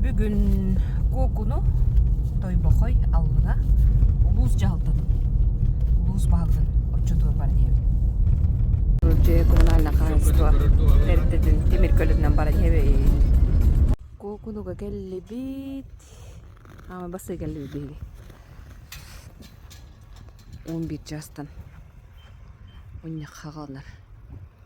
Бүгүн Куокуну, Тойбохой, Аллыҥа улуус дьаһалтатын, улуус баһылыгын отчуотугар диэбит. Дьиэ коммунальное хаһаайыстыба эрдэтин тимир көлөтүнэн баран иһэбит. Куокунуга келлибит. Ама басыы келлибит биһиги. Он бир жастан. Он яхагалнар.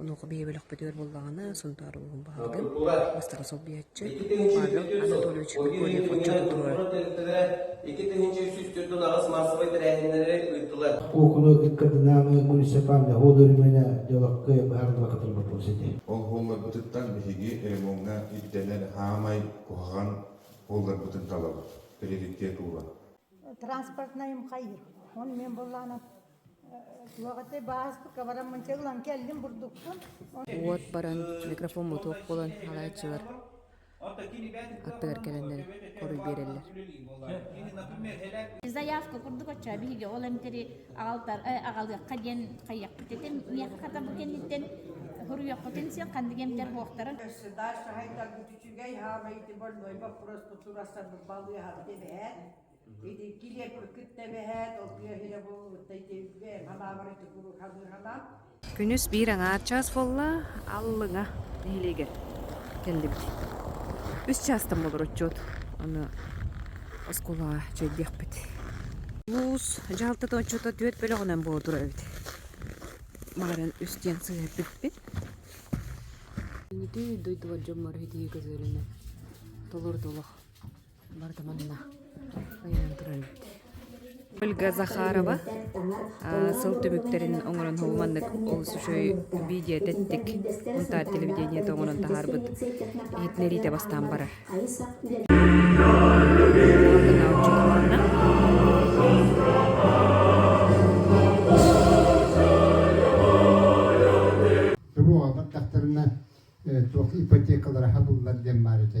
Онуоха бэйэ бөлөхпүтүгэр буоллаҕына, Сунтаар улууһун баһылыгын бастакы солбуйааччы Павел Анатольевич Миконьев отчуоту туруорар. Икки тыһыынча үс үс төрдүн аҕыс маассабай тэрээһиннэри ыыттылар. Окуну ыккадынааны муниципальный хоол өрүмэнэ дьалакка быһаардыла кытылбаппыс этэ. Ол буолларбытыттан биһиги ремоҥҥа ирдэнэр хаамай куһаҕан буолларбытын талабыт, приоритет ууран. Транспортнай МХИ. Он мен буллану Уот баран, микрофон мотуок буолан алааччылар аттыгар кэлэннэр хоруй биэрэллэр. Заявка курдук отча биһиги ол эмтери аҕалтар аҕалыахха диэн хайыахпыт этим. Миэхэ хата бу кэнниттэн хоруйуоххутун сиэ ханнык эмтэр буохтарын. Дальше хайтар үчүгэй хабайты больной вопрос тутурастар балыаха бэһэт. Итинки леппы кытта бэһээт, ол тыаһыйа буолбуттай тиэбитэ, халаабары тукуру хабыырхалаан. Күнүс биир аҥаар чаас буолла, аллыҥа нэһилиэгэр кэллибит. Үс чаастан болор отчуот. Аны оскуолаҕа чэйдиэхпит. Улуус дьаһалтата отчуота түөрт бөлөҕүнэн буола турар эбит. Маҕаран үс диэн сыһыарбиппит. Ити дойдубар дьоммор итии көзөрүнэ толор толох. барыта манна ойонон туран Ольга Захарова сыл түмүктэрин оҥорон хомуманнык олус үчүгэй видео тэттик унтаар телевидениеті оҥорон таһаарбыт иһитинэриитэ бастаан барар туруоҕа баттахтарына туох ипотекалара хабыллар диэн баар этэ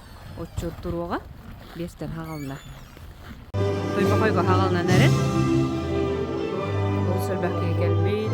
Отчуот туруоҕа биэстэр хаҕалына. Тойбохойго хаҕалынан эрин. Сөрбэх киһи кэлбит.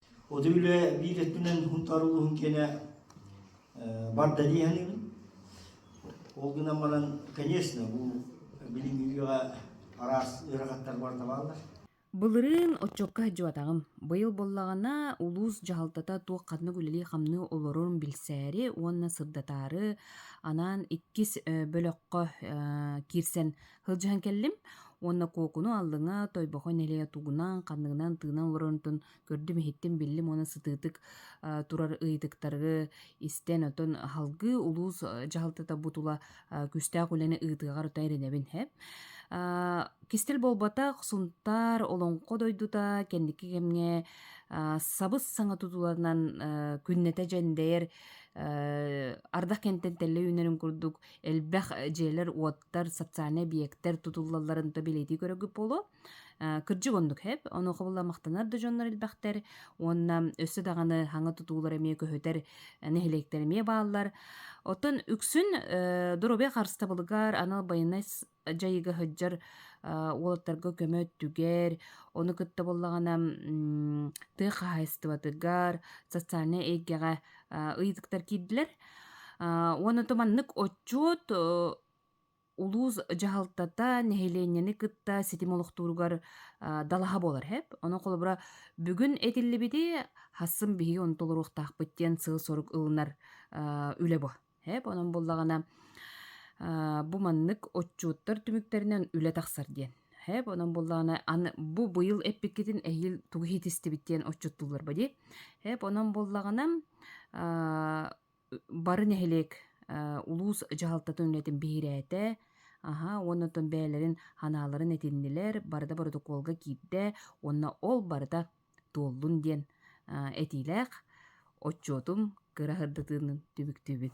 От үлэ биир өттүнэн Хунтаар улууһун киэнэ бар далее саныыбын. Ол гынан баран, конечно, бу билиҥҥи үйэҕэ араас ыарахаттар барыта бааллар. Былырыын оччокко дьуотаҕым. Быйыл буоллаҕына, улуус дьаһалтата туох ханнык үлэлии-хамныы олорорун билсээри уонна сырдатаары анаан иккис бөлөххө киирсэн Хылдьыһан кэллим уонна Куокуну аллыҥа Тойбохо нэлэйэ тугунан, ханныгынан тыынан олорорунтун көрдүм, иһиттим, биллим уонна сытыытык э, турар ыйытыктары истэн, оттон аһылгы улуус э, дьаһалтата бу тула э, күүстээх үлэни ыытыаҕар өтө эрэнэбин хэп. Кистэл буолбатах Сунтаар Олоҥхо дойдута кэнники кэмҥэ сабыс-саҥа тутуланан күннэтэ дьэндэйэр ардах кэнтэн тэллэ үүнэрин курдук элбэх дьиэлэр, уоттар, социальнай объектар тутуллалларын то билетии көрөгүт буолуо. Кырдьык оннук хэп, онуоха булла махтанар да дьоннор элбэхтэр уонна өссө даҕаны хаҥа тутуулар эмиэ көһүтэр нэһилиэктэр эмиэ бааллар. Оттон үксүн доруобуйа харыстабылыгар анал байыаннай дьайыга сылдьар уолаттарга көмө өттүгэр, ону кытта буоллаҕына тыа хаһаайыстыбатыгар, социальнай эйгэҕэ ыйытыктар киирдилэр. уонна ото маннык отчуот улуус дьаһалтата нэһилиэнньэни кытта ситим олохтууругар далаһа буолар эһэп. Ону холобура бүгүн этиллибити, хассын биһиги ону толоруохтаахпыт диэн сыал-сорук ылынар үлэ бу. Эп, онон буллаҕына бу маннык отчуттар түмүктэринэн үлэ тахсар диэн. Эп, онон буллаҕына аны бу быйыл эппиккитин эһиил тугу иһитистибит диэн отчуттууллар ба дии. Эп, онон буллаҕына бары нэһилиэк улуус дьаһалтатын үлэтин биһирээтэ, аһа уонна оттон бэйэлэрин анааларын этиннилэр, барыта боротокуолга киирдэ, уонна ол барыта туоллун диэн этиилээх отчуотум кыра сырдатыынын түмүктүүбүн